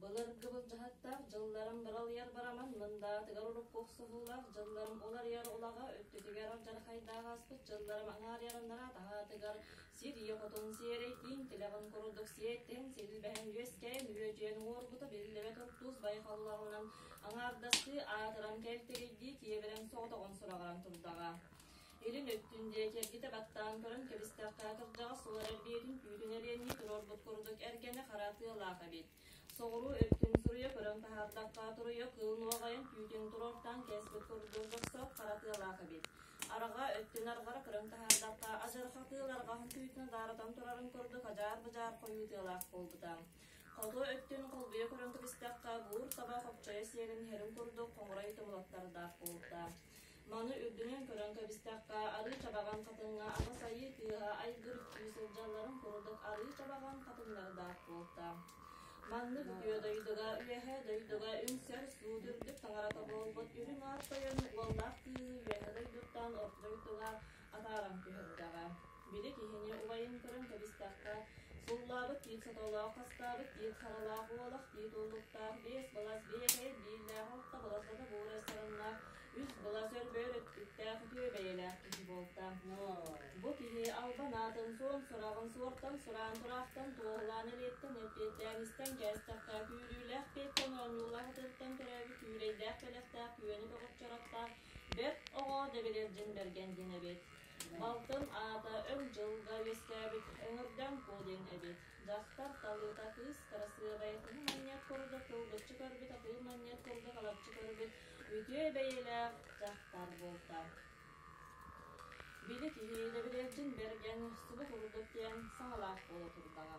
Былыр кыбылдьаһыттар дьылларын быралыйар барамын Мындаатыгар урукку охсуһуулар дьылларым уларыйар улаҕа өттүтүгэр дьархайдаах ааспыт дьылларым аҥаарыйарыннара таһаатыгар сир ийэ-хотун сиэрэйтиин тилэҕин курдук сиэттэн силбэһэн үөскээн үөдьүөн уҥуоргута биллибэ туртуус байҕаллаҕынан аҥаардастыы аатыран кэлтэгийдии киэбирэн соҕотоҕун сураҕыран турдаҕа Илин өттүн диэки эргитэ баттаан көрөн кэбистэххэ, кырдьаҕас ылар эрбиэтин түүтүн эриэннии туруорбут курдук эргэни хара тыалаах эбит. Соҕуруу өттүн суруйа көрөн таһаардахха, туруйа кыыл нуоҕайын түүтүн туруортаан кээспит курдук босхо хара тыалаах эбит. Араҕа өттүн арҕара көрөн таһаардахха, адьырҕа тыал арҕаһын түүтүн адаарытан турарын курдук адьаар-быдьаар хойуу тыалаах буолбута. Хоту өттүн холбуйа көрөн кэбистэххэ, буур таба хопчойо сиэгин иһэрин курдук хоҥурай тумулаттардаах буолбута. Маны үрдүнэн көрөн кэбистэххэ, арыы чабаҕан хатыҥҥа аҕыс айыы тыаһа айгыр-үктүү сылдьалларын курдук арыы чабаҕан хатыҥнардаах буолта. Маннык үтүө дойдуга, үөһэ дойдуга үҥсэр суут үрдүк таҥарата буолбут үрүҥ аар тойон уоллаах тыыһы үөһэ дойдуттан орто дойдуга Атааран түһэрдэҕэ. Били киһини убайын көрөн кэбистэххэ, сууллаабыт тиит сотолоох, хастаабыт тиит харалаах, уолах тиит уллуктаах, биэс былас, биэкэй бииллээх, орто былас да тобугурай сарыннаах, үс былас өрбөөр өттүктээх үтүө бэйэлээх киһи буолта. Бу киһи албан аатын суон сураҕын суортан сураан тураахтан туоһулаан элиэттэн эппиэттээн истэн кээстэххэ, күүрүүлээх эппиэттэн оонньуулаах ытыыттан төрөөбүт күүрэйдээх бэлэхтээх күөнү бөҕөччөрөхтөөх Бэрт оҕо Дэбириэлдьин Бэргэн диэн эбит. Балтым аата өр дьылга үөскээбит Өҥүрдэм Куо диэн эбит. Дьахтар талыыта кыыс кырасыабай атыһы манньыат курдук кылгыччы көрбүт атыһы манньыат курдук алапчы көрбүт үтүө бэйэлээх дьахтар буолта. Били киһи Дэбириэлдьин Бэргэн субу курдук диэн саҥалаах буола турдаҕа.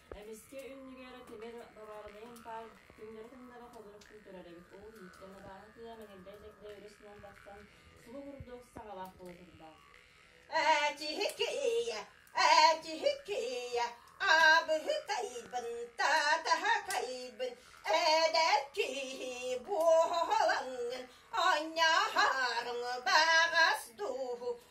Эмискэ иннигэр Тимир Баварнайын паар түҥнэри-тымнары холорук күүтэрэр эбит. Уу ииттэн абааһы тыа мэҥирдэ-дьэгдэ өрүс уон тахсан, субу курдук саҥалаах буола турдаах. Ээ, тиһик-кыйа, ээ, тиһик-кыйа, аабыһы кайбын, таатаһа кайбын, эдэр киһи буоһалаҥҥын, онньооһооруҥ баҕас дууһу,